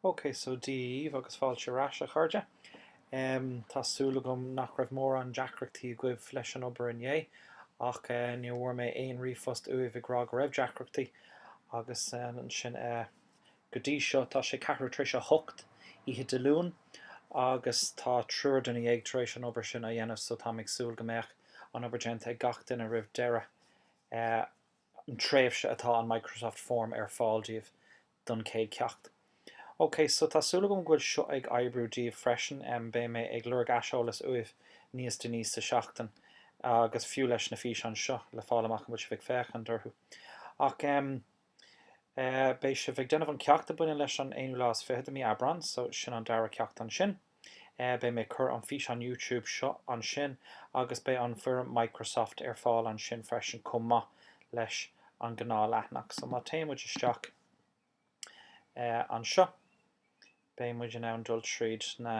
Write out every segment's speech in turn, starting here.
OK so Dia dhaoibh agus fáilte ar ais, a chairde. Tá súil agam nach raibh mórán deacrachtaí agaibh leis an obair inné, ach ní bhfuair mé aon ríomhphost uaibh ag rá go raibh deacrachtaí. Agus ansin go dtí seo tá sé ceathrú tar éis a hocht oíche Dé Luain agus tá triúr duine dhéag tar éis an obair sin a dhéanamh so táim ag súil go mbeadh an obair déanta ag gach duine roimh deireadh. an tréimhse atá an Microsoft Form ar fáil daoibh don chéad cheacht. Ok, so tá súil agam go bhfuil seo ag oibriú daoibh freisin, beidh mé ag lorg aiseolas uaibh níos déanaí sa tseachtain agus fiú leis na físeáin seo le fáil amach an bhfuil sibh ag féachaint orthu. Ach em, eh, beidh sibh ag déanamh an ceacht a baineann leis an 21ú lá de mhí Aibreán, so sin an dara ceacht ansin. Beidh mé ag cur an físeán YouTube seo ansin agus beidh an fhoirm Microsoft ar fáil ansin freisin chomh maith leis an gnáthleathanach. So má téann muid isteach anseo beidh muid in ann dul tríd na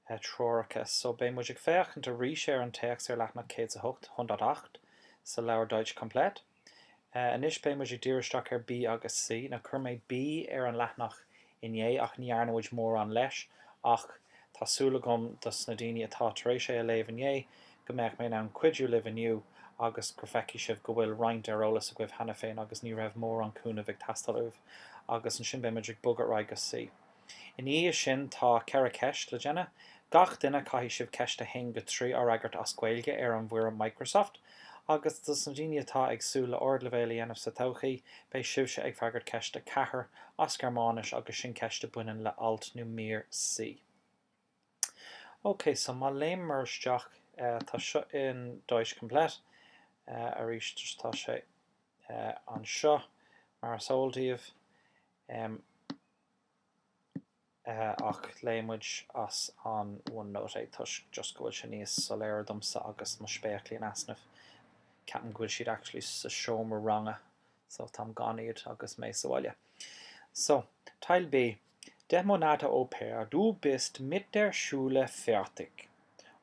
treoracha. So beidh muid ag féachaint arís ar an téacs ar leathanach 108, hundertacht, sa leabhar Deutsch komplett. Anois beidh muid ag díriú isteach ar B agus C. Now chuir mé B ar an leathanach inné ach ní dhearna muid mórán leis ach tá súil agam dos na daoine atá tar éis é a léamh inné go mbeadh mé in ann cuidiú libh inniu agus go bhfeicfidh sibh go bhfuil roinnt ar eolas agaibh cheana féin agus ní raibh mórán cúnaimh ag teastáil uaibh agus ansin beidh muid ag bogadh ar aghaidh go C. I ndiaidh sin tá ceithre ceist le déanamh. Gach duine caithfidh sibh ceist 1-3 a fhreagairt as Gaeilge ar an bhfoirm Microsoft. Agus dos na daoine atá ag súil le ardleibhéal a dhéanamh sa todhchaí, beidh sibhse ag freagairt ceist 4 as Gearmáinis agus sin ceist a baineann le alt nó mír C. Ok so má léimeamar isteach tá seo in Deutsch komplett arís so tá sé anseo mar is eol daoibh. ach léifidh muid as an OneNote é toisc just go bhfuil sé níos soiléire domsa agus mo spéaclaí in easnamh. Ceapaim go bhfuil siad actually sa seomra ranga so táim gan iad agus mé sa bhaile. So, Teil B, Deich Monate Au Pair, Du bist mit der Schule fertig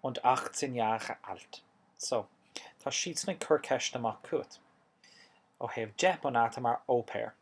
und achtzehn Jahre alt. So, tá siadsan ag cur ceisteanna amach chugat ó thaobh deich Monate mar Au Pair.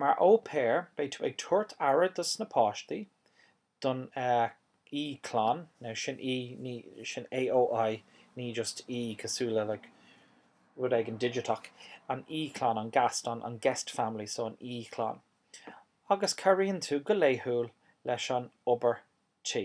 Mar au pair, beidh tú ag tabhairt aire dos na páistí, don aoichlann, now sin, sin AOI, ní just e cosúil le like rud éigin digiteach, an aoichlann, an Gast, an an guest family, so an aoichlann. Agus cabhraíonn tú go laethúil leis an obair tí.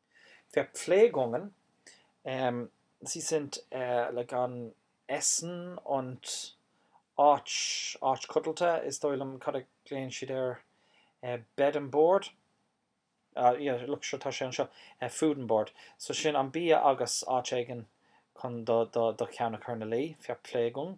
Verpflegungen, sie sind Liegen, Essen und áit, áit codlata, is dóigh liom, cad a ghlaonn siad air, bed and board? Ah yeah, look, sure, tá sé anseo, food and board. So sin an bia agus áit éigin chun do, do, do cheann a chur ina luí, Verpflegung.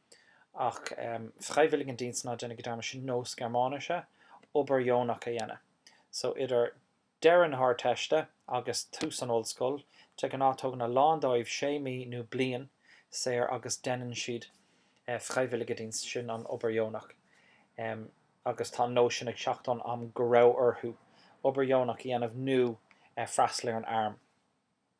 ach Freiwilligendienst, ná déanaigí dearmad, sin nós Gearmáinise obair dheonach a dhéanamh. So idir deireadh na hArdteiste agus tús an ollscoil, de ghnáth tugann a lán dóibh sé mí nó bliain saor agus deineann siad Freiwilligendienst, sin an obair dheonach agus tá an nós sin ag teacht ón am go raibh orthu obair dheonach a dhéanamh nó freastal ar an arm.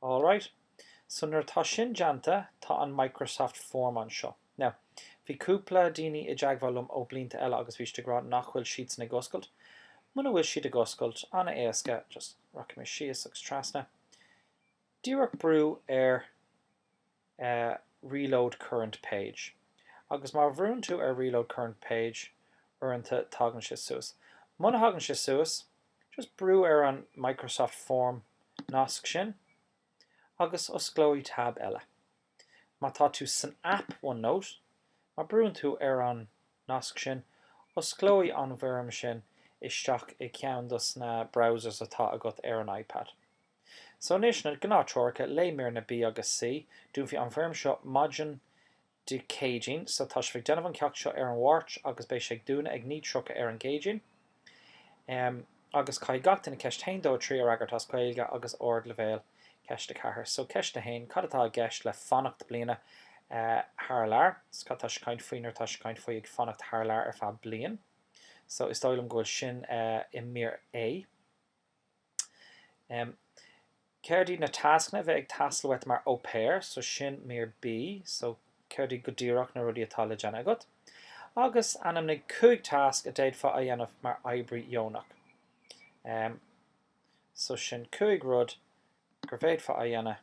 All right. So nuair atá sin déanta, tá an Microsoft Form anseo. Now, bhí cúpla daoine i dteagmháil liom ó blianta eile agus bhí siad ag rá nach bhfuil siad sin ag oscailt. Muna bhfuil siad ag oscailt, an-éasca, just rachaidh mé síos agus trasna, díreach brú ar Reload current page, Agus má bhrúnn tú ar Reload current page uaireanta tagann sé suas. Muna thagann sé suas, just brú ar an Microsoft Form nasc sin agus osclóidh tab eile. Má tá tú san aip OneNote, má bhrúnn tú ar an nasc sin, osclóidh an bhfoirm sin isteach i gceann dos na browsers atá agat ar an iPad. So anois, na gnáth-threoracha, léigh mír A, B agus C. Dúnfaidh an bhfoirm seo maidin Dé Céadaoin, so tá sibh ag déanamh an ceacht seo ar an Mháirt agus beidh sé ag dúnadh ag 9:30 ar an gCéadaoin. Em, agus caithfidh gach duine ceist 1, 2, 3 a fhreagairt as Gaeilge agus ardleibhéal. Ceist 4. So ceist 1, cad atá i gceist le fanacht bliana thar lear? So cad atá sibh ag caint faoi nuair atá sibh ag caint faoi ag fanacht thar lear ar feadh bliain? So is dóigh liom go bhfuil sin i mír A. Em. Cad iad na tascanna a bheidh ag teastáil uait mar Au Pair? So sin mír B. So cad iad go díreach na rudaí atá le déanamh agat? Agus ainmnigh cúig tasc a d'fhéadfá a dhéanamh mar oibrí dheonach. Em. So sin cúig rud gur bhféadfá a dhéanamh